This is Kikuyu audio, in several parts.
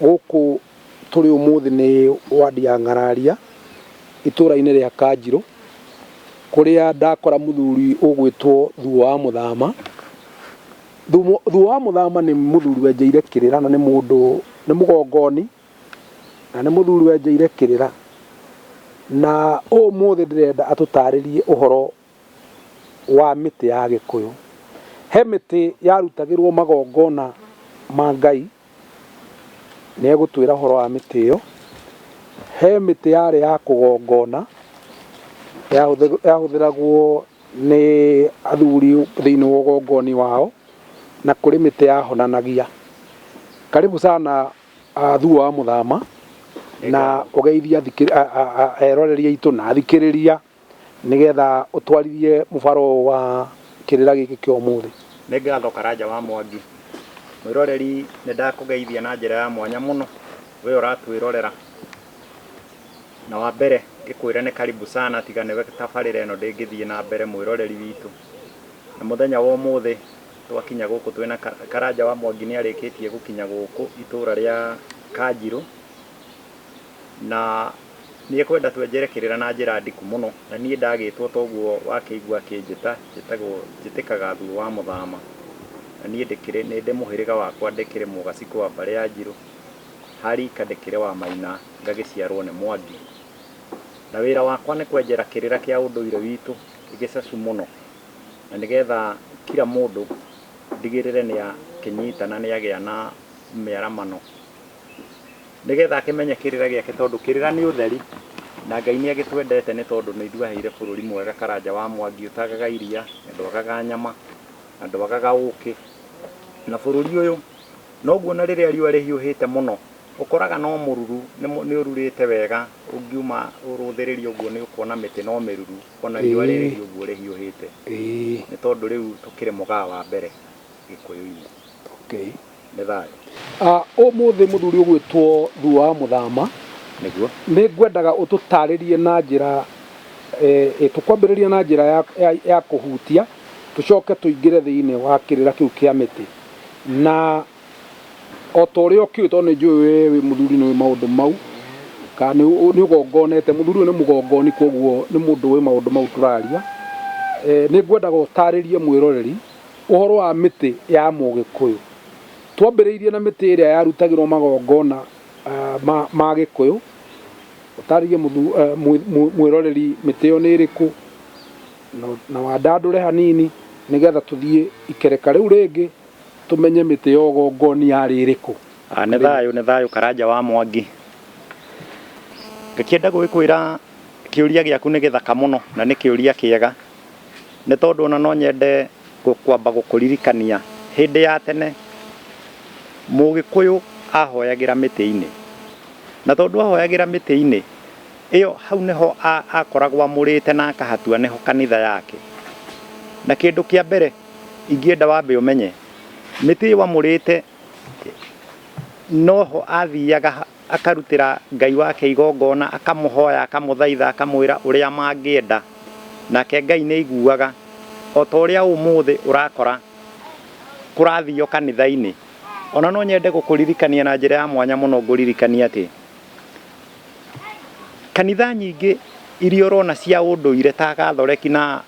Gũkũ tũrĩ ũmũthĩ nĩ ward ya Ng'araria, itũũra-inĩ rĩa Kanjirũ, kũrĩa ndakora mũthuri ũgwĩtwo Thuo wa Mũthama. Thuo wa Mũthama nĩ mũthuri wenjeire kĩrĩra na nĩ mũndũ, nĩ mũgongoni, na nĩ mũthuri wenjeire kĩrĩra. Na ũmũthĩ ndĩrenda atũtarĩrie ũhoro wa mĩtĩ ya Gĩkũyũ. He mĩtĩ yarutagĩrwo magongona ma Ngai, nĩ egũtwĩra ũhoro wa mĩtĩ ĩyo. He mĩtĩ yarĩ ya kũgongona, yahũthĩragwo nĩ athuri thĩinĩ wa ũgongoni wao, na kũrĩ mĩtĩ yahonanagia. Karibu sana Thuo wa Mũthama na ũgeithie eroreri aitũ na athikĩrĩria. Nĩgetha ũtwarithie mũbara ũyũ wa kĩrĩra gĩkĩ kĩa ũmũthĩ. Nĩ ngatho Karanja wa Mwangi. Mwĩroreri nĩ ndakũgeithia na njĩra ya mwanya mũno wee ũratwĩrorera. Na wa mbere ngĩkwĩre nĩ karibu sana tiga nĩwe tabarĩra ĩno ndĩngĩthiĩ na mbere mwĩroreri witũ. Na mũthenya wa ũmũthĩ twakinya gũkũ twĩna Karanja wa Mwangi nĩ arĩkĩtie gũkinya gũkũ itũra rĩa Kanjirũ. na nĩ ekwenda twenjere kĩrĩra na njĩra ndiku mũno, na niĩ ndagĩtwo toguo wakĩigua akĩnjĩta, njĩtagwo njĩtĩkaga Thuo wa Mũthama, na niĩ ndĩkĩrĩ nĩ ndĩ mũhĩrĩga wakwa ndĩkĩrĩ Mũgacikũ wa mbarĩ ya Njirũ, ha rika ndĩkĩrĩ wa Maina ngagĩciarwo nĩ Mwangi, na wĩra wakwa nĩ kwenjera kĩrĩra kĩa ũndũire witũ gĩcacu mũno, na nĩgetha kira mũndũ ndigĩrĩre nĩ akĩnyita na nĩ agĩa na mĩaramano. Nĩgetha akĩmenye kĩrĩra gĩake tondũ kĩrĩra nĩ ũtheri, na Ngai nĩ agĩtwendete nĩ tondũ nĩ ithuaheire bũrũri mwega Karanja wa Mwangi ũtagaga iria, na ndwagaga nyama, na ndwagaga ũkĩ. Na bũrũri ũyũ noguo ona rĩrĩa riũa rĩhiũhĩte mũno ũkoraga no mũruru, nĩ ũrurĩte wega ũngiuma ũrũthĩrĩria ũguo nĩ ũkuona mĩtĩ no mĩruru ona riũa rĩrĩ ũguo rĩhiũhĩte. Nĩ tondũ rĩu tũkĩrĩ mũgaa wa mbere Gĩkũyũ-inĩ. nĩ thayũ. Ah, Ũmũthĩ mũthuri ũgwĩtwo Thuo wa Mũthama, Nĩguo. nĩ ngwendaga ũtũtaarĩrie na njĩra, eh, eh, tũkwambĩrĩrie na njĩra ya, ya, ya kũhutia, tũcoke tũingĩre thĩinĩ wa kĩrĩra kĩu kĩa mĩtĩ. Na o ta ũrĩa ũkĩũĩ, tondũ nĩ njũĩ wee wĩ mũthuri nĩ ũĩ maũndũ mau, ka nĩ, ũ- nĩ ũgongonete, mũthuri ũyũ nĩ mũgongoni, kwoguo nĩ mũndũ ũĩ maũndũ mau tũraria. Eh, nĩ ngwendaga ũtaarĩrie mwĩroreri, Ũhoro wa mĩtĩ ya Mũgĩkũyũ. Twambĩrĩirie na mĩtĩ ĩrĩa yarutagĩrwo magongona ma Gĩkũyũ, ũtarĩrie mwĩroreri mĩtĩ ĩyo nĩ ĩrĩkũ, na wandandũre hanini nĩgetha tũthiĩ ikereka rĩu rĩngĩ tũmenye mĩtĩ ya ũgongoni yarĩ ĩrĩkũ. Nĩ thayũ nĩ thayũ Karanja wa Mwangi. Ngakĩenda gũgĩkwĩra kĩũria gĩaku nĩ gĩthaka mũno na nĩ kĩũria kĩega. nĩ tondũ ona no nyende kwamba gũkũririkania hĩndĩ ya tene mũgĩkũyũ ahoyagĩra mĩtĩ-inĩ. Na tondũ ahoyagĩra mĩtĩ-inĩ ĩyo hau nĩho akoragwo amũrĩte na akahatua nĩho kanitha yake. Na kĩndũ kĩa mbere ingĩenda wambe ũmenye mĩtĩ ĩyo amũrĩte noho athiaga... akarutĩra Ngai wake igongona, akamũhoya, akamũthaitha, akamwĩra ũrĩa mangĩenda, nake Ngai nĩ aiguaga. O ta ũrĩa ũmũthĩ ũrakora kũrathio kanitha-inĩ. O na no nyende gũkũririkania na njĩra ya mwanya mũno ngũririkanie atĩ, kanitha nyingĩ iria ũrona cia ũndũire ta Gathoreki na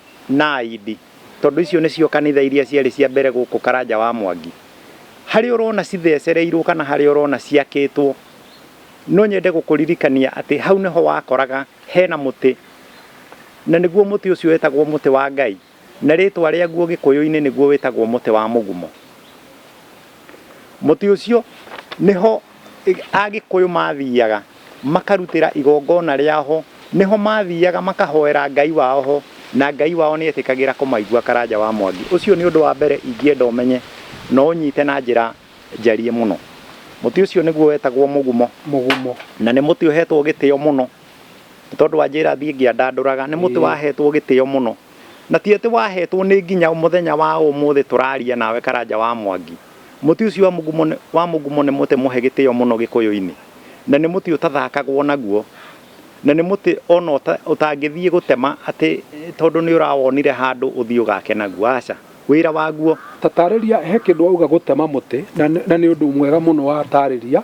Aindi, Tondũ icio nĩcio kanitha iria ciarĩ cia mbere gũkũ Karanja wa Mwangi. Harĩa ũrona cithecereirwo kana harĩa ũrona ciakĩtwo, no nyende gũkũririkania atĩ hau nĩho wakoraga hena mũtĩ, na nĩguo mũtĩ ũcio wetagwo mũtĩ wa Ngai, na rĩtwa rĩaguo gĩkũyũ-inĩ nĩguo wĩtagwo mũtĩ wa mũgumo. Mũtĩ ũcio nĩho Agĩkũyũ maathiaga makarutĩra igongona rĩao ho, nĩho maathiaga makahoera Ngai wao ho, na Ngai wao nĩ eetĩkagĩra kũmaigua Karanja wa Mwagi. Ũcio nĩ ũndũ wa mbere ingĩenda ũmenye na ũũnyite na njĩra njariĩ mũno. Mũtĩ ũcio nĩguo wetagwo mũgumo. Mũgumo. Na nĩ mũtĩ ũheetwo gĩtĩo mũno. Nĩ tondũ wa njĩra thiĩ ngĩandandũraga. Nĩ mũtĩ waheetwo gĩtĩo mũno. Na ti atĩ waheetwo nĩ nginya mũthenya wa ũmũthĩ tũraria nawe Karanja wa Mwagi. Mũtĩ ũcio wa mũgumo wa mũgumo nĩ mũtĩ mũhe gĩtĩo mũno Gĩkũyũ-inĩ, na nĩ mũtĩ ũtathakagwo naguo, na nĩ mũtĩ o na ũtangĩthiĩ gũtema atĩ tondũ nĩ ũrawonire handũ ũthiĩ ũgake naguo, aca, wĩra waguo. Ta taarĩria, he kĩndũ wauga gũtema mũtĩ, na nĩ ũndũ mwega mũno wataarĩria,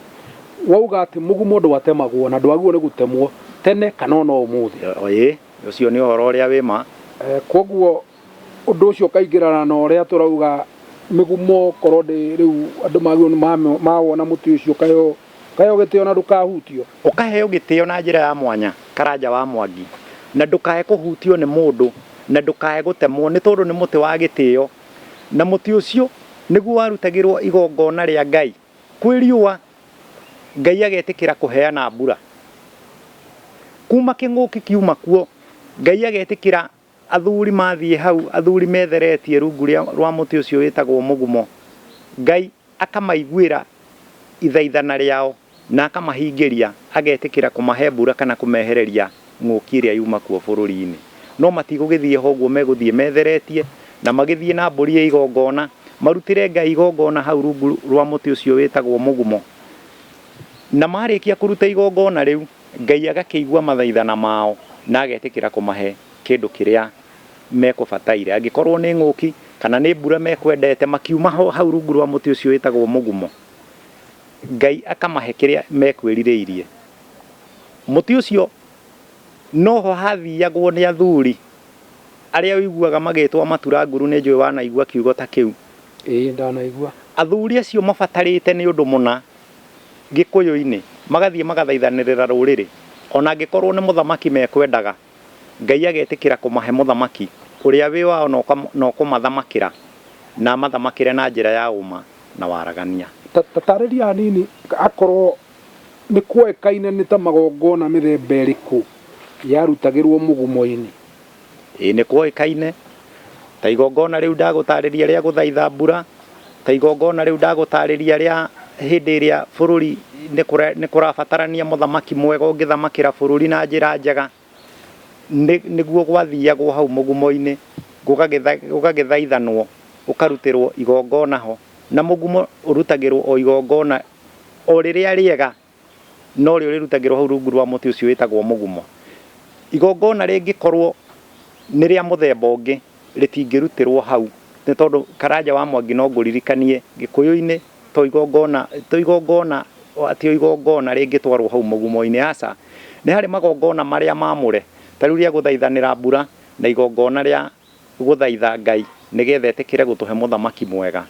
wauga atĩ mũgumo ndwatemagwo na ndwagĩrĩirwo nĩ gũtemwo tene kana o na ũmũthĩ. Ĩĩ, ũcio nĩ ũhoro ũrĩa wĩ ma. Kwoguo Ũndũ ũcio ũkaingĩrana na ũrĩa tũrauga mĩgumo, korwo ndĩ rĩu andũ magĩrĩirwo nĩ ma- mawona mũtĩ ũcio ũkaheo ũkaheo gĩtĩo na ndũkahutio. Ũkaheo gĩtĩo na njĩra ya mwanya, karanja wa mwangi, na ndũkae kũhutio nĩ mũndũ, na ndũkae gũtemwo, nĩ tondũ nĩ mũtĩ wa gĩtĩo, na mũtĩ ũcio nĩguo warutagĩrwo igongona rĩa Ngai kwĩ riũa, Ngai agetĩkĩra kũheana mbura. Kuma kĩng'ũki kiuma kuo, Ngai agetĩkĩra Athuri mathiĩ hau, athuri metheretie rungu rĩa, rwa mũtĩ ũcio wĩtagwo mũgumo, Ngai akamaiguĩra ithaithana rĩao, na akamahingĩria, agetĩkĩra kũmahe mbura kana kũmehereria ng'ũki ĩrĩa yuma kuo bũrũri-inĩ. No matigũgĩthiĩ ho ũguo, megũthiĩ metheretie, na magĩthiĩ na mbũri ya igongona, marutĩre Ngai igongona hau rungu rwa mũtĩ ũcio wĩtagwo mũgumo. Na marĩkia kũruta igongona rĩu. Ngai agakĩigua mathaithana mao na agetĩkĩra kũmahe kĩndũ kĩrĩa mekũbataire. Angĩkorũo nĩ ng'ũki kana nĩ mbura mekwendete, makiuma ho hau rungu rwa mũtĩ ũcio wĩtagwo mũgumo, Ngai akamahe kĩrĩa mekwĩrirĩirie. Mũtĩ ũcio no ho hathiagwo nĩ athuri arĩa ũiguaga magĩtwo amatura nguru. Nĩ njũĩ wanaigua kiugo ta kĩu. Ĩĩ, ndanaigua. Athuri acio mabatarĩte nĩ ũndũ mũna. Gĩkũyũ-inĩ, magathiĩ magathaithanĩrĩra rũrĩrĩ, o na angĩkorũo nĩ mũthamaki mekwendaga, Ngai agetĩkĩra kũmahe mũthamaki ũrĩa wĩ wao na ũkũmathamakĩra na amathamakĩre na njĩra ya ũma na waragania. Ta taarĩria hanini akorũo nĩ kwoĩkaine nĩ ta magongona mĩthemba ĩrĩkũ yarutagĩrũo mũgumo-inĩ. Ĩĩ nĩ kwoĩkaine, ta igongona rĩu ndagũtaarĩria rĩa gũthaitha mbura, ta igongona rĩu ndagũtaarĩria rĩa hĩndĩ ĩrĩa bũrũri nĩ kũrabatarania mũthamaki mwega ũngĩthamakĩra bũrũri na njĩra njega, nĩguo gwathiagwo hau mũgumo-inĩ gũgagĩthaithanwo, gũkarutĩrwo igongona ho. Na mũgumo ũrutagĩrwo o igongona o rĩrĩa rĩega. no rĩo rĩrutagĩrwo hau rungu rwa mũtĩ ũcio wĩtagwo mũgumo. Igongona rĩngĩkorwo nĩ rĩa mũthemba ũngĩ rĩtingĩrutĩrwo hau nĩ tondũ Karanja wa Mwangi no ngũririkanie Gĩkũyũ-inĩ to igongona, to igongona, ti o igongona rĩngĩtwarwo hau mũgumo-inĩ, aca. Nĩ harĩ magongona marĩa mamũre, ta rĩu rĩa gũthaithanĩra mbura na igongona rĩa Gũthaitha Ngai nĩ getha etĩkĩre gũtũhe mũthamaki mwega,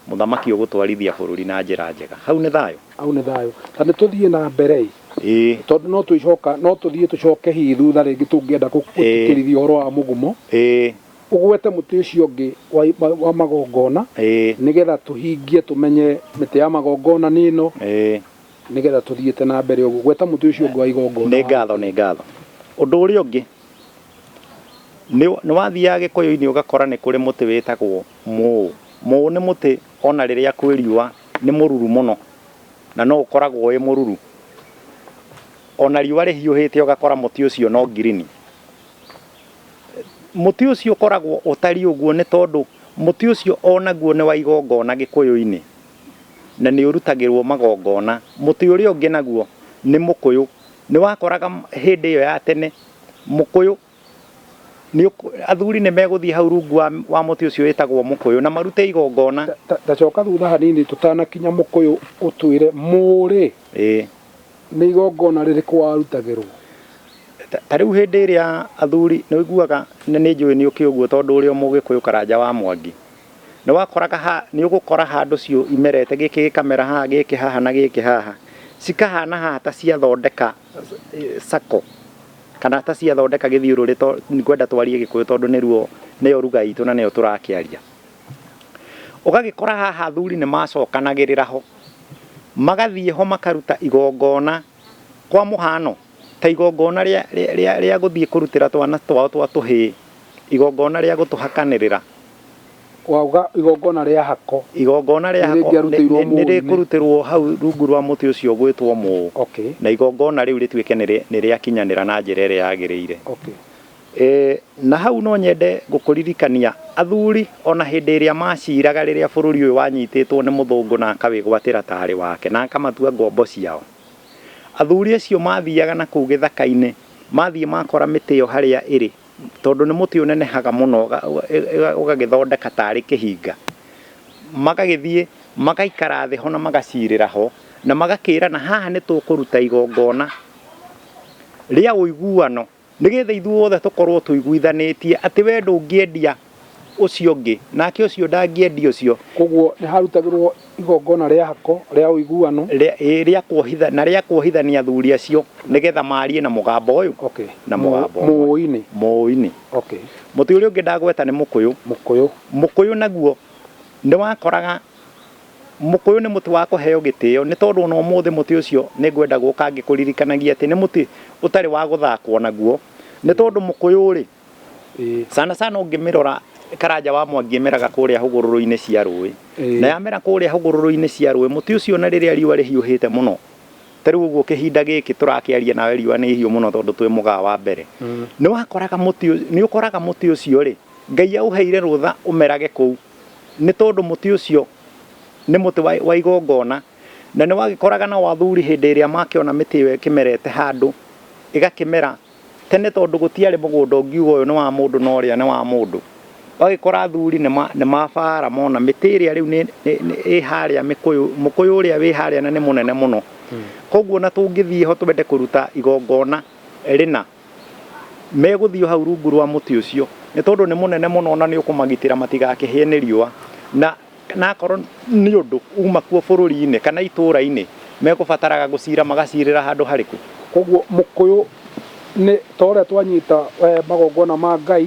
mũthamaki ũgũtwarithia bũrũri na njĩra njega. Hau nĩ thayũ? Hau nĩ thayũ. Ta nĩ tũthiĩ na mbere ĩ. Ĩĩ. Tondũ no twĩcoka, no tũthiĩ tũcoke hihi thutha rĩngĩ tũngĩenda gũtĩtĩrithia ũhoro wa mũgumo. Ĩĩ. Ũgwete mũtĩ ũcio ũngĩ wa magongona. Ĩĩ. Nĩ getha tũhingie tũmenye mĩtĩ ya magongona nĩ ĩno. Ĩĩ. Nĩ getha tũthiĩte na mbere ũguo. Gweta mũtĩ ũcio ũngĩ wa igongona. Nĩ ngatho, nĩ ngatho. Ũndũ ũrĩa ũngĩ Nĩ wathiaga Gĩkũyũ-inĩ ũgakora nĩ kũrĩ mũtĩ wĩtagwo mũũ. Mũũ nĩ mũtĩ ona rĩrĩa kwĩ riũa nĩ mũruru mũno na no ũkoragwo wĩ mũruru. Ona riũa rĩhiũhĩte ũgakora mũtĩ ũcio no green. Mũtĩ ũcio ũkoragwo ũtariĩ ũguo nĩ tondũ mũtĩ ũcio onaguo nĩ wa igongona Gĩkũyũ-inĩ na nĩ ũrutagĩrwo magongona. Mũtĩ ũrĩa ũngĩ naguo nĩ mũkũyũ. Nĩwakoraga hĩndĩ ĩyo ya tene mũkũyũ, athuri nĩmegũthiĩ hau rungu wa mũtĩ ũcio wĩtagwo mũkũyũ na marute igongona. Ta coka thutha hanini tũtanakinya mũkũyũ ũtwĩre, Mũrĩ nĩ igongona rĩrĩkũ warutagĩrũo? Ta rĩu hĩndĩ ĩrĩa athuri, nĩũiguaga, na nĩnjũĩ nĩũkĩ ũguo tondũ ũrĩ o Mũgĩkũyũ Karanja wa Mwangi. Nĩ wakoraga ha, nĩ ũgũkora handũ ciũ imerete, gĩkĩ gĩkamera haha, gĩkĩ haha na gĩkĩ haha. Cikahana haha ta ciathondeka circle kana ta ciathondeka gĩthiũrũrĩ to ngwenda twarie gĩkũyũ tondũ nĩruo nĩyo ruga itũ na nĩyo tũrakĩaria. Ũgagĩkora haha athuri nĩ macokanagĩrĩra ho, magathiĩ ho makaruta igongona Kwa mũhaano, ta igongona rĩa gũthiĩ kũrutĩra twana twao twa tũhĩĩ, igongona rĩa gũtũhakanĩrĩra. Wauga igongona rĩa hako. Igongona rĩa hako nĩ rĩkũrutĩrũo hau rungu rwa mũtĩ ũcio ũgwĩtwo mũũ, na igongona rĩu rĩtuĩke nĩ rĩakinyanĩra na njĩra ĩrĩa yagĩrĩire. Ee, na hau no nyende gũkũririkania, athuri o na hĩndĩ ĩrĩa maaciraga rĩrĩa bũrũri ũyũ wanyitĩtwo nĩ mũthũngũ na akawĩgwatĩra ta arĩ wake na akamatua ngombo ciao, athuri acio maathiaga na kũu gĩthaka-inĩ, mathiĩ makora mĩtĩ ĩyo harĩa ĩrĩ, tondũ nĩ mũtĩ ũnenehaga mũno ũgagĩthondeka ta arĩ kĩhinga, magagĩthiĩ magaikara thĩ ho na magacirĩra ho, na magakĩrana, haha nĩ tũkũruta igongona rĩa ũiguano. Nĩgeetha ithuothe tũkorwo tũiguithanĩtie atĩ we ndũngĩendia ũcio ũngĩ, nake ũcio ndangĩendia ũcio. Kwoguo nĩhaarutagĩrwo igongona rĩa hako rĩa ũiguano. Rĩa, ĩĩ, rĩa kuohitha, na rĩa kuohithania athuri acio, nĩgeetha maarie na mũgambo ũyũ, Okay. na Mũ- mũgambo ũmwe. Mũũi-inĩ. Mũũi-inĩ. Okay. Mũtĩ ũrĩa ũngĩ ndagweta nĩ mũkũyũ. Mũkũyũ. Mũkũyũ naguo nĩwakoraga. Mũkũyũ nĩ mũtĩ wa kũheo gĩtĩo nĩ tondũ o na ũmũthĩ mũtĩ ũcio nĩ ngwenda gũka ngĩkũririkanagia atĩ nĩ mũtĩ ũtarĩ wa gũthakwo naguo nĩ tondũ mũkũyũ rĩ, sana sana ũngĩmĩrora Karanja wa Mwangi ĩmeraga kũrĩa hũgũrũrũ-inĩ cia rũĩ. Na yamera kũrĩa hũgũrũrũ-inĩ cia rũĩ, mũtĩ ũcio o na rĩrĩa riũa rĩhiũhĩte mũno, ta rĩu ũguo kĩhinda gĩkĩ tũrakĩaria nawe riũa nĩ ihiũ mũno tondũ twĩ mũgaa wa mbere, nĩ ũkoraga mũtĩ ũcio rĩ, Ngai aũheire rũtha ũmerage kũu. Nĩ tondũ mũtĩ ũcio nĩ mũtĩ wa igongona, na nĩ wagĩkoraga na wathuri hĩndĩ ĩrĩa makĩona mĩtĩ ĩyo ĩkĩmerete handũ, ĩgakĩmera. Tene tondũ gũtiarĩ mũgũnda ũngiuga ũyũ nĩ wa mũndũ na ũrĩa nĩ wa mũndũ, ũgagĩkora athuri nĩ mabara mona mĩtĩ ĩrĩa rĩu ĩ harĩa mĩkũyũ, mũkũyũ ũrĩa wĩ harĩa na nĩ mũnene mũno, kwoguo ona tũngĩthiĩ ho twende kũruta igongona rĩna, Megũthiĩ o hau rungu rwa mũtĩ ũcio, nĩ tondũ nĩ mũnene mũno na nĩ ũkũmagitĩra matigakĩhĩe nĩ riũa, na akorwo nĩ ũndũ uma kuo bũrũri-inĩ kana itũũra-inĩ, megũbataraga gũcira magacirĩra handũ harĩkũ? Kwoguo mũkũyũ nĩ ta ũrĩa twanyita magongona ma Ngai,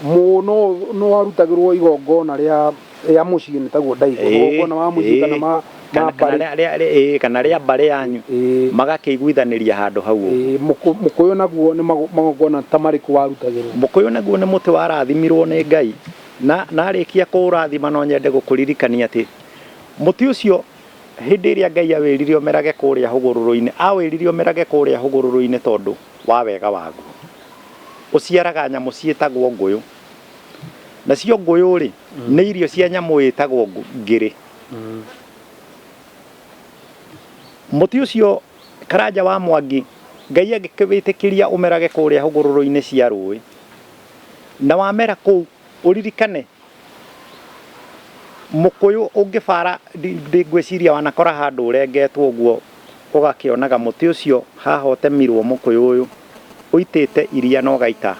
mũno no warutagĩrwo igongona rĩa rĩa mũciĩ nĩ taguo ndaigua Ĩĩ, magongona ma mũciĩ ĩĩ. kana ma ma Kana- kana mbarĩ rĩa- rĩa- rĩa- ĩĩ, kana rĩa mbarĩ yanyu Ĩĩ. magakĩiguithanĩria handũ hau ũguo. Ĩĩ, mũkũ- mũkũyũ naguo nĩ mago- magongona ta marĩkũ warutagĩrwo mũkũyũ naguo nĩ mũtĩ warathimirwo nĩ ngai na narĩkia kũũrathima no nyende gũkũririkania atĩ mũtĩ ũcio hĩndĩ ĩrĩa ngai awĩrire ũmerage kũrĩa hũgũrũrũ-inĩ awĩrire ũmerage kũrĩa hũgũrũrũ-inĩ tondũ wa wega waguo ũciaraga nyamũ ciĩtagwo ngũyũ Nacio ngũyũ-rĩ, nĩ irio cia nyamũ ĩtagwo ngirĩ. Mũtĩ ũcio Karanja wa Mwangi Ngai agĩkĩwĩtĩkĩria ũmerage kũrĩa hũgũrũrũ-inĩ cia rũĩ. Na wamera kũu, ũririkane Mũkũyũ ũngĩbara ngwĩciria wanakora handũ ũrengetwo ũguo ũgakĩonaga mũtĩ ũcio haha ũtemirwo Mũkũyũ ũyũ. ũitĩte iria na ũgaita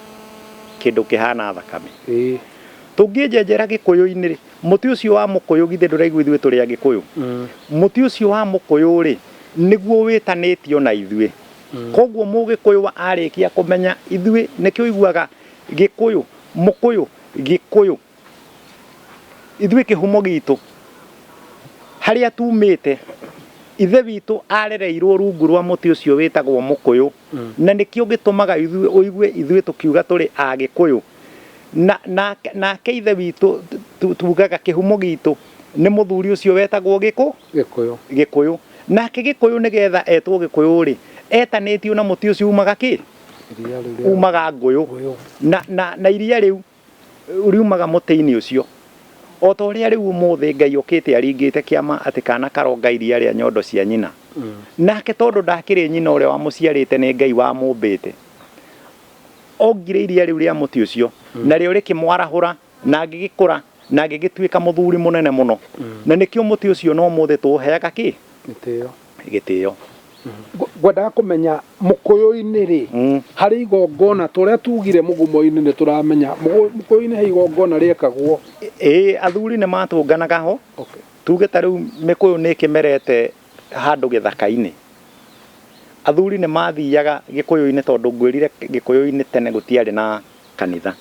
kĩndũ kĩhana thakame. Ĩĩ. Tũngĩnjenjera Gĩkũyũ-inĩ rĩ, mũtĩ ũcio wa mũkũyũ githĩ ndũraigua ithuĩ tũrĩ Agĩkũyũ? Mũtĩ ũcio wa mũkũyũ rĩ, nĩguo wĩtanĩtio na ithuĩ. Kwoguo Mũgĩkũyũ arĩkia kũmenya ithuĩ, nĩkĩo ũiguaga Gĩkũyũ, Mũkũyũ, Gĩkũyũ. Ithuĩ kĩhumo gitũ harĩa tumĩte, ithe witũ arereirwo rungu rwa mũtĩ ũcio wĩtagwo mũkũyũ, na nĩkĩo gĩtũmaga ũigue ithuĩ tũkiuga tũrĩ Agĩkũyũ. Nake ithe witũ tugaga kĩhumo gitũ nĩ mũthuri ũcio wetagwo Gĩkũyũ. Nake Gĩkũyũ nĩgetha etwo Gĩkũyũ-rĩ, etanĩtio na mũtĩ ũcio umaga kĩ? Umaga ngũyũ. Na iria rĩu... riumaga mũtĩ-inĩ ũcio. O ta ũrĩa rĩu ũmũthĩ Ngai okĩte aringĩte kĩama atĩ kaana karonga iria rĩa nyondo cia nyina. Nake tondũ ndakĩrĩ nyina ũrĩa wamũciarĩte nĩ Ngai wamũmbĩte. Ongire iria rĩu rĩa mũtĩ ũcio narĩo rĩkĩmwarahũra na agĩgĩkũra na agĩgĩtuĩka mũthuri mũnene mũno. Na nĩkĩo mũtĩ ũcio na ũmũthĩ tũũheaga kĩ? Gĩtĩo. gĩtĩo. Ngwendaga kũmenya Mũkũyũ-inĩ rĩ, harĩ igongona, ta ũrĩa tugire Mũgumo-inĩ nĩ tũramenya, Mũkũyũ-inĩ he igongona rĩekagwo? Ĩĩ athuri nĩ matũnganaga ho, tuge ta rĩu mĩkũyũ nĩ ĩkĩmerete handũ gĩthaka-inĩ, athuri nĩ mathiaga gĩkũyũ-inĩ tondũ ngwĩrire gĩkũyũ-inĩ tene gũtiarĩ na kanitha.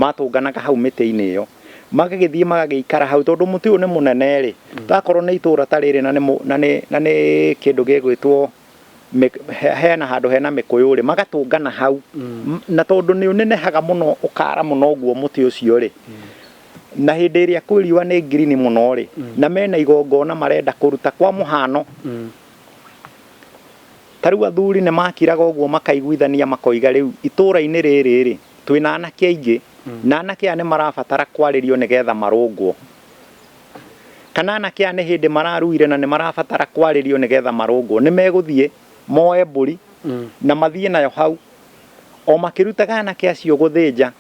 matũnganaga hau mĩtĩ-inĩ ĩyo magagĩthiĩ magagĩikara hau tondũ mũtĩ ũyũ nĩ mũnene rĩ mm. takorwo nĩ itũra ta rĩrĩ na nĩ kĩndũ gĩgwĩtwo hena handũ hena mĩkũyũ rĩ magatũngana hau mm. na tondũ nĩ ũnenehaga mũno ũkara mũno ũguo mũtĩ ũcio rĩ mm. na hĩndĩ ĩrĩa kwĩ riũa nĩ ngirini mũno rĩ na mena igongona marenda kũruta kwa mũhano Ta rĩu athuri nĩ maakiraga ũguo makaiguithania makoiga rĩu itũũra-inĩ rĩrĩ-rĩ, twĩ na anake aingĩ, na anake aya nĩ marabatara kwarĩrio nĩ getha marũngwo. Kana anake aya nĩ hĩndĩ mararuire na nĩ marabatara kwarĩrio nĩ getha marũngwo. Nĩ megũthiĩ moe mbũri na mathiĩ nayo hau. O makĩrutaga anake acio gũthĩnja,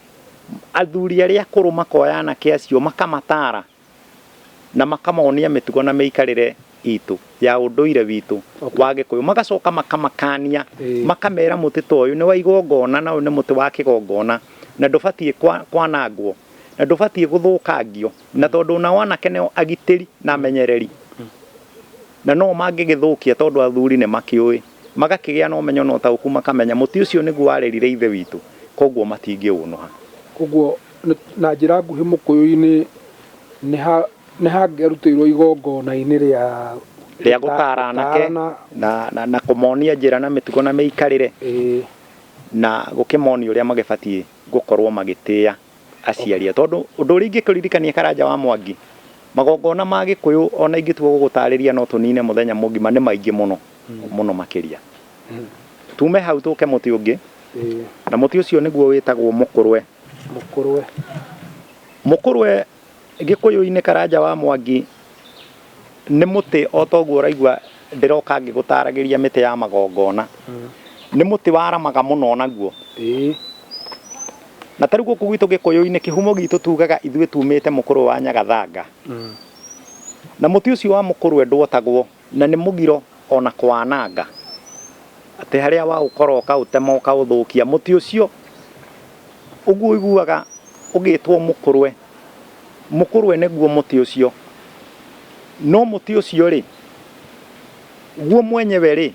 athuri arĩa akũrũ makoya anake acio makamataara na makamonia mĩtugo na mĩikarĩre itũ ya ũndũire witũ okay. wa gĩkũyũ magacoka makamakania eh. makamera mũtĩ ta ũyũ nĩ wa igongona na ũyũ nĩ mũtĩ wa kĩgongona na ndũbatiĩ kwanangwo na ndũbatiĩ gũthũkangio na mm. tondũ nao anake nĩo agitĩri na amenyereri mm. na no mangĩgĩthũkia tondũ athuri nĩ makĩũĩ magakĩgĩa na ũmenyo na ũtaũku makamenya mũtĩ ũcio nĩguo warerire ithe witũ koguo matingĩũnũha koguo Na njĩra nguhĩ Mũkũyũ-inĩ nĩ hangĩarutĩirũo igongona-inĩ rĩa. Rĩa gũtaara anake na kũmonia njĩra na mĩtugo na mĩikarĩre, na gũkĩmonia ũrĩa magĩbatiĩ gũkorũo magĩtĩa aciari ao. Tondũ ũndũ ũrĩa ingĩkũririkania Karanja wa Mwangi, magongona ma Gĩkũyũ o na ingĩtua gũgũtaarĩria no tũnine mũthenya mũgima, nĩ maingĩ mũno, mũno makĩria. Tuume hau tũke mũtĩ ũngĩ, na mũtĩ ũcio nĩguo wĩtagwo mũkũrwe. Mũkũrwe. Mũkũrwe gĩkũyũ-inĩ Karanja wa Mwangi nĩ mũtĩ o ta ũguo ũraigua ndĩroka ngĩgũtaragĩria mĩtĩ ya magongona. Nĩ mũtĩ waramaga mũno o naguo. Na ta rĩu gũkũ gwitũ gĩkũyũ-inĩ kĩhumo gitũ tugaga ithuĩ tumĩte mũkũrwe wa nyagathanga. Na mũtĩ ũcio wa mũkũrwe ndwotagwo. Na nĩ mũgiro o na kũwananga, atĩ harĩa waũkora ũkaũtema ũkaũthũkia. Mũtĩ ũcio ũguo ũiguaga ũgĩtwo mũkũrwe, mũkũrwe nĩguo mũtĩ ũcio. No mũtĩ ũcio-rĩ, guo mwenyewe-rĩ,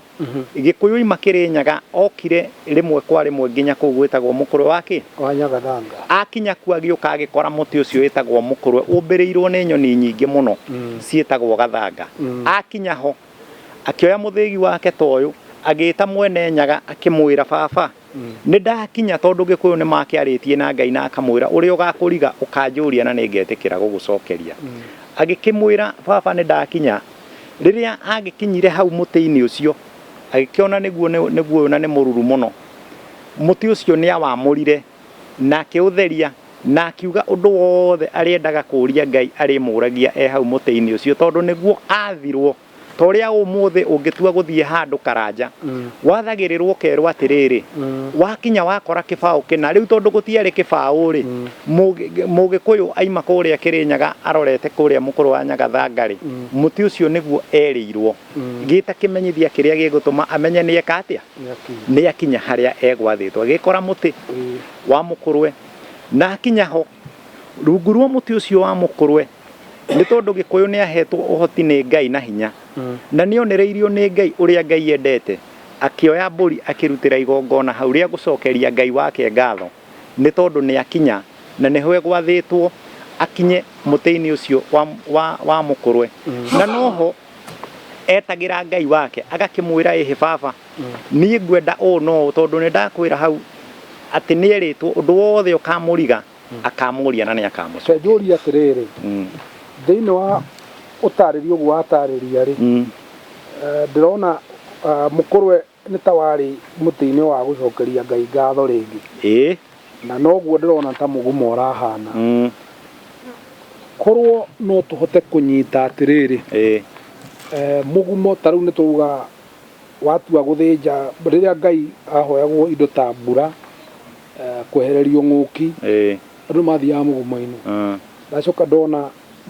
Gĩkũyũ-inĩ makĩrĩ Nyaga okire rĩmwe kwa rĩmwe nginya kũu gwĩtagwo mũkũrwe wa kĩ Kwa Nyagathanga. akinya kuo agĩũka agĩkora mũtĩ ũcio wĩtagwo mũkũrwe ũmbĩrĩirwo nĩ nyoni nyingĩ mũno Mm. ciĩtagwo gathanga Mm. akinya ho akĩoya mũthĩgi wake ta ũyũ agĩĩta mwene nyaga akĩmwĩra baba Mm. nĩ ndakinya tondũ gĩkũyũ nĩ makĩarĩtie na ngai na akamwĩra ũrĩa ũgakũriga ũkanjũria na nĩ ngetĩkĩra gũgũcokeria Mm. agĩkĩmwĩra baba nĩ ndakinya rĩrĩa agĩkinyire hau mũtĩ-inĩ ũcio Agĩkĩona nĩguo nĩ guoyũ na nĩ mũruru mũno. Mũtĩ ũcio nĩ awamũrire na akĩũtheria na akiuga ũndũ wothe arĩendaga kũũria Ngai arĩmũũragia e hau mũtĩ-inĩ ũcio tondũ nĩguo aathirwo. Ta ũrĩa ũmũthĩ ũngĩtua gũthiĩ handũ karanja, wathagĩrĩrwo ũkerwo atĩrĩrĩ, wakinya wakora kĩbaũ kĩna. Rĩu tondũ gũtiarĩ kĩbaũ rĩ, Mũgĩkũyũ aima kũrĩa Kĩrĩnyaga arorete kũrĩa Mũkũrwe wa Nyagathanga rĩ, mũtĩ ũcio nĩguo erĩirwo. gĩta kĩmenyithia kĩrĩa gĩgũtũma amenye nĩ eka atĩa nĩ akinya harĩa egwathĩtwo agĩkora mũtĩ wa mũkũrwe na akinya ho rungu rwa mũtĩ ũcio wa mũkũrwe nĩ tondũ gĩkũyũ nĩ ahetwo ũhoti nĩ ngai na hinya na nĩ onereirio nĩ ngai ũrĩa ngai endete akĩoya mbũri akĩrutĩra igongona hau rĩa gũcokeria ngai wake ngatho nĩ tondũ nĩ akinya na nĩho egwathĩtwo akinye mũtĩ-inĩ ũcio wa, wa, wa mũkũrwe na noho etagĩra ngai wake agakĩmwĩra ĩhĩ baba niĩ ngwenda ũũ no ũũ tondũ nĩ ndakwĩra hau atĩ nĩ erĩtwo ũndũ wothe ũkamũriga akamũria na nĩ akamũcokia Reke njũrie atĩrĩrĩ, Mm, thĩinĩ wa ũtarĩria ũguo watarĩria rĩ, mm, eh, ndĩrona ah, mũkũrwe Nĩ ta warĩ mũtĩ-inĩ wa gũcokeria Ngai ngatho rĩngĩ. Ĩĩ. Na noguo ndĩrona ta mũgumo ũrahana. Korwo no tũhote kũnyita atĩrĩrĩ, mũgumo ta rĩu nĩ twauga watua gũthĩnja, rĩrĩa Ngai ahoyagwo indo ta mbura, kwehererio ng'ũki, andũ nĩ mathiaga mũgumo-inĩ. Ndacoka ndona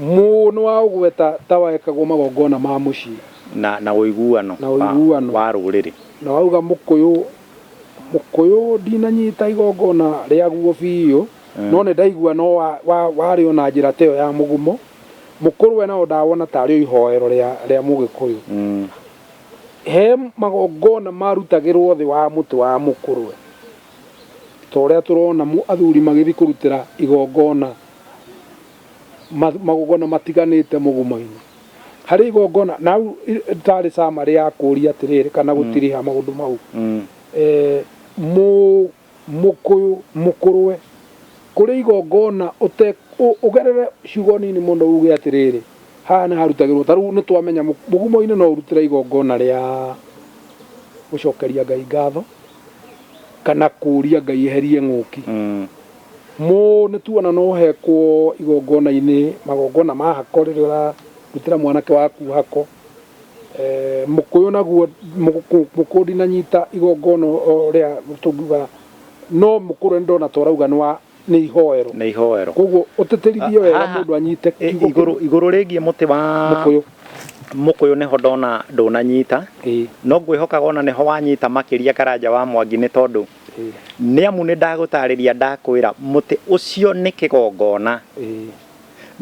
mũũ nĩ waũgweta ta wekagwo magongona ma mũciĩ. Na, na ũiguano. Na ũiguano. Wa, wa rũrĩrĩ. Na wauga Mũkũyũ, Mũkũyũ ndinanyita igongona rĩaguo biũ, no nĩ ndaigua no wa, wa, warĩo na njĩra ta ĩyo ya mũgumo, Mũkũrwe nao ndawona ta arĩo ihoero rĩa, rĩa Mũgĩkũyũ. He magongona marutagĩrwo thĩ wa mũtĩ wa Mũkũrwe, ta ũrĩa tũrona mũ, athuri magĩthiĩ kũrutĩra igongona, ma, magongona matiganĩte mũgumo-inĩ. harĩ igongona na hau i- rĩtaarĩ summary ya kũũria atĩrĩrĩ kana gũtiriha maũndũ mau Mm. eh, mũ- mũkũyũ mũkũrwe kũrĩ igongona ũte ũ- ũgerere ciugo nini mũno uge atĩrĩrĩ haha nĩ harutagĩrwo ta rĩu nĩ twamenya mũ- mũgumo-inĩ no ũrutĩre igongona rĩa gũcokeria ngai ngatho kana kũũria ngai eherie ng'ũki Mm. Mũ nĩ tuona no ũhekwo igongona-inĩ, magongona ma hako rĩrĩa ũrarutĩra mwanake waku hako. Mũkũyũ naguo, mũkũyũ ndinanyita igongona ũrĩa tũngiuga, no mũkũyũ nĩ ndona ta ũrauga nĩ wa, nĩ ihoero. Nĩ ihoero. Kwoguo ũtĩtĩrithie wega mũndũ anyite kiugo kĩu. Haha igũrũ rĩgiĩ mũtĩ wa mũkũyũ nĩho ndona ndũnanyita, no ngwĩhokaga ona nĩho wanyita makĩria Karanja wa Mwangi nĩ tondũ. Nĩ amu nĩ ndagũtaarĩria ndakwĩra, mũtĩ ũcio nĩ kĩgongona.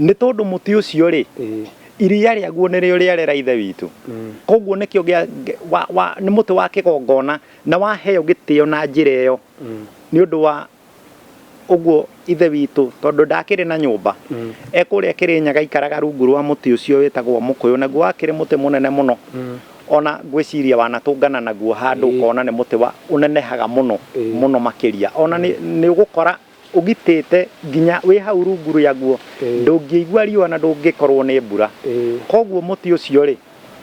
Nĩ tondũ mũtĩ ũcio-rĩ, iria rĩaguo nĩrĩo rĩarera Ithe witũ. Kwoguo nĩkĩo nĩ mũtĩ wa kĩgongona na waheo gĩtĩo na njĩra ĩyo nĩ ũndũ wa ũguo ithe witũ tondũ ndakĩrĩ na nyũmba mm. ekũrĩa kĩrĩnyaga ikaraga rungu rwa mũtĩ ũcio wĩtagwo mũkũyũ naguo wakĩrĩ mũtĩ mũnene mũno mm. ona ngwĩciria wanatũngana naguo handũ ũkona nĩ mũtĩ wa ũnenehaga mũno mũno makĩria ona nĩ mm. ũgũkora ũgitĩte nginya wĩ hau rungu rĩaguo ndũngĩigua riũa na ndũngĩkorwo nĩ mbura koguo mũtĩ ũcio rĩ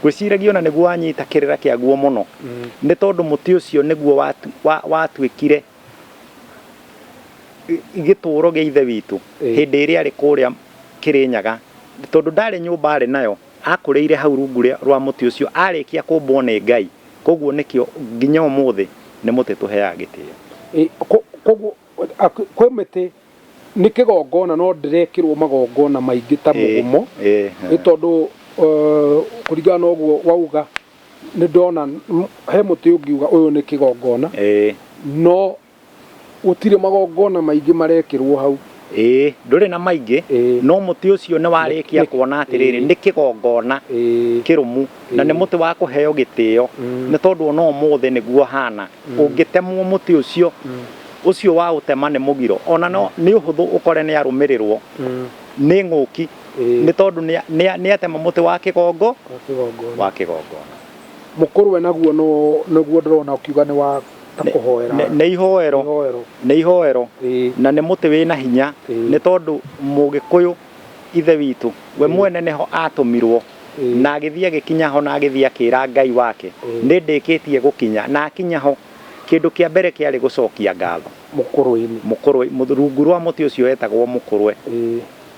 ngwĩciragia ona nĩguo wanyita kĩrĩra kĩaguo mũno nĩ tondũ mũtĩ ũcio nĩguo watuĩkire wa, wa gĩtũũro gĩa ithe witũ Eh. hĩndĩ ĩrĩa arĩ kũrĩa kĩrĩnyaga tondũ ndarĩ nyũmba arĩ nayo akũrĩire hau rungu rĩa- rwa mũtĩ ũcio arĩkia kũmbwo nĩ ngai koguo nĩkĩo nginya ũmũthĩ nĩ mũtĩ tũheaga gĩtĩo Ĩ, ko- koguo a- kwĩ mĩtĩ nĩ kĩgongona no ndĩrekĩrwo magongona maingĩ ta mũgumo Ĩ, ĩ, nĩ tondũ eh, kũringana na ũguo wauga Nĩ ndona he mũtĩ ũngiuga ũyũ nĩ kĩgongona. Ĩĩ. No gũtirĩ magongona maingĩ marekĩrwo hau. Ĩĩ, ndũrĩ na maingĩ. Ĩĩ. No mũtĩ ũcio nĩ warĩkia kuona atĩrĩrĩ, nĩ kĩgongona kĩrũmu na nĩ mũtĩ wa kũheo gĩtĩo. Nĩ tondũ o na ũmũthĩ nĩguo ũhana. Ũngĩtemwo mũtĩ ũcio, ũcio waũtema nĩ mũgiro. O na nĩ ũhũthũ ũkore nĩ arũmĩrĩrwo nĩ ng'ũki. Ĩĩ. nĩ tondũ nĩa- nĩa- nĩatema mũtĩ wa kĩgongo Wa kĩgongona. wa kĩgongona mũkũrũ we naguo no- nĩguo ndĩrona ũkiuga nĩ wa ta Nĩ- kũhoera nĩ- nĩ ihoero Ihoero. nĩ ihoero Ĩĩ. na nĩ mũtĩ wĩna hinya Ĩĩ. nĩ tondũ mũgĩkũyũ ithe witũ we Ĩĩ. mwene nĩho atũmirwo Ĩĩ. na agĩthiĩ agĩkinya ho na agĩthiĩ akĩra ngai wake Ĩĩ. nĩ ndĩkĩtie gũkinya na akinya ho kĩndũ kĩa mbere kĩarĩ gũcokia ngatho mũkũrũ-inĩ mũkũrwe mũth- rungu rwa mũtĩ ũcio wetagwo mũkũrwe Ĩĩ.